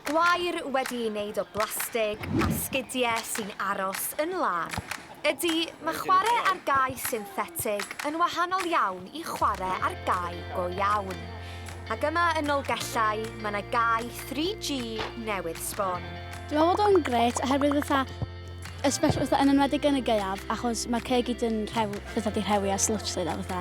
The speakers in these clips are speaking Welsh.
Gwair wedi ei wneud o blastig a sgidiau sy'n aros yn lân. Ydy, mae chwarae ar gae synthetig yn wahanol iawn i chwarae ar gae go iawn. Ac yma yn Nolgellau, mae 'na gae 3G newydd sbon. Dwi'n meddwl bod o'n grêt oherwydd fatha, especially fatha yn enwedig yn y gaeaf achos ma'r caeau i gyd yn rhew- fatha 'di rhewi ar slwtsh 'lly de fatha.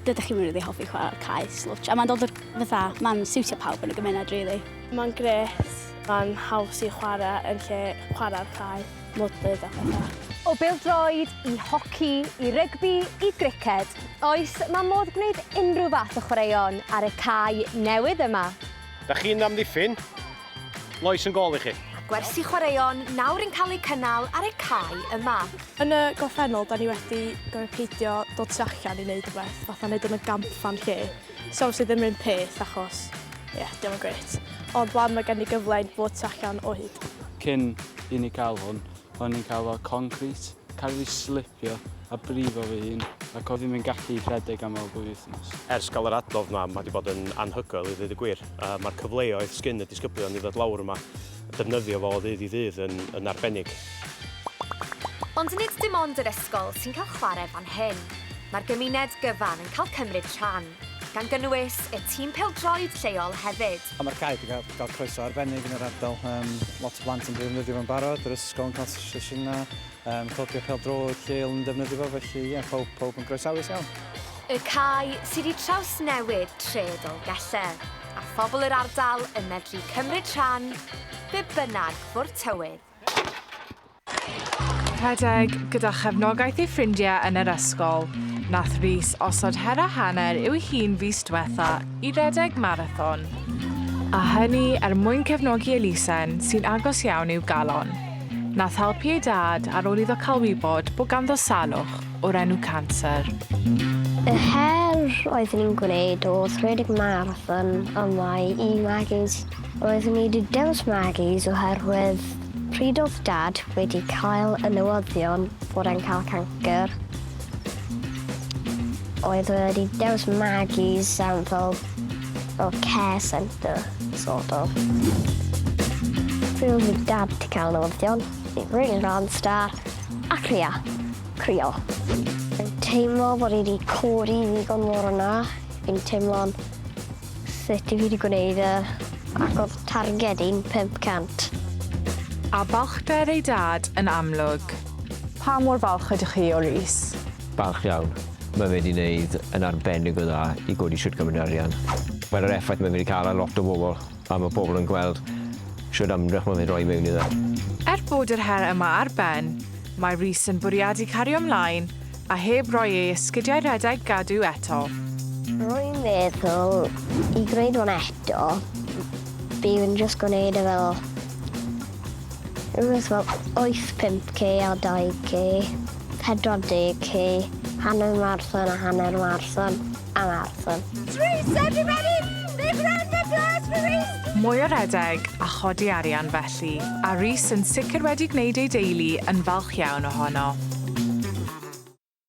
Dydych chi'n rili hoffi chwarae'r cae slwtsh a mae'n dod o'r fatha, mae'n siwtio pawb yn y gymuned rili. Mae'n grêt, mae'n haws i chwarae yn lle chwarae'r cae, mwdlyd a pethau. O bêl-droed i hoci i rygbi i griced, oes, mae modd gwneud unrhyw fath o chwaraeon ar y cae newydd yma. Dach chi'n amddiffyn? Lois yn gol i chi. Mae gwersi chwaraeon nawr yn cael eu cynnal ar y cae yma. Yn y gorffennol, da ni wedi gorfod peidio dod tu allan i wneud rhywbeth, fatha wneud yn y gampfan lle. So obviously ddim rhywun peth achos, ie, yeah, diolch yn gret. Ond wan mae gen i gyfle i fod tu allan o hyd. Cyn i ni cael hwn, o'n i'n cael fel concrit, cael fi slipio a brifo fy hun ac oedd hi'n mynd gallu rhedeg am fel dwy wythnos. Ers cael yr adnodd yma, mae wedi bod yn anhygoel i ddweud y gwir. Mae'r cyfleoedd sgyn y disgyblion i ddod lawr yma, defnyddio fo o ddydd i ddydd yn, yn arbennig. Ond nid dim ond yr ysgol sy'n cael chwarae fan hyn. Mae'r gymuned gyfan yn cael cymryd rhan. gan gynnwys y tîm pêl-droed lleol hefyd. A mae'r cae 'di cael, cael croeso arbennig yn yr ardal. Um, lot o blant yn defnyddio fo'n barod, yr ysgol yn cael sesiynau, um, clybio pêl-droed lleol yn defnyddio fo, felly ie, yeah, pawb, pawb yn groesawus iawn. Y cae sydd i traws newid tre Dolgelle, a phobl yr ardal yn medru cymryd rhan be bynnag fo'r tywydd. Rhedeg gyda chefnogaeth ei ffrindiau yn yr ysgol, nath Rhys osod her a hanner i'w hun fis dwetha i redeg marathon. A hynny er mwyn cefnogi elusen sy'n agos iawn i'w galon. Nath helpu ei dad ar ôl iddo cael wybod bod ganddo salwch o'r enw canser. Y her oeddwn i'n gwneud oedd rhedeg marathon yma i Maggie's. Roeddwn i 'di dewis Maggie's oherwydd Pryd oedd Dad wedi cael y newyddion bod e'n cael cancr? Oedd e wedi dewis Maggie's am fel, fel care centre, sort of. Pryd oedd fy Dad wedi cael y newyddion? Fi'n rili rhan star a crio. Crio. Fi'n teimlo bod e wedi codi ddigon mor yna. Fi'n teimlo'n Sut i fi 'di gwneud e ac odd targed i'n 500. A balchder ei dad yn amlwg. Pa mor falch ydych chi o Rhys? Balch iawn. Mae fe 'di 'neud yn arbennig o dda i godi shwt gymaint o arian. Mae'r yr effaith mae fe 'di ca'l ar lot o bobl a ma' pobl yn gweld shwd ymdrech ma' fe'n roi mewn iddo. Er bod yr her yma ar ben, mae Rhys yn bwriadu cario mlaen A heb roi ei esgidiau rhedeg gadw eto. Rwy'n meddwl i greu nhw'n eto bydd yn jyst gwneud e fel rhywbeth fel wyth pump K a dau K, pedwar deg K, hanner marathon a hanner marathon. Am Arthur. Trees everybody! Big round of applause for Reese! Mwy o redeg a chodi arian felly, a Reese yn sicr wedi gwneud ei deulu yn falch iawn ohono.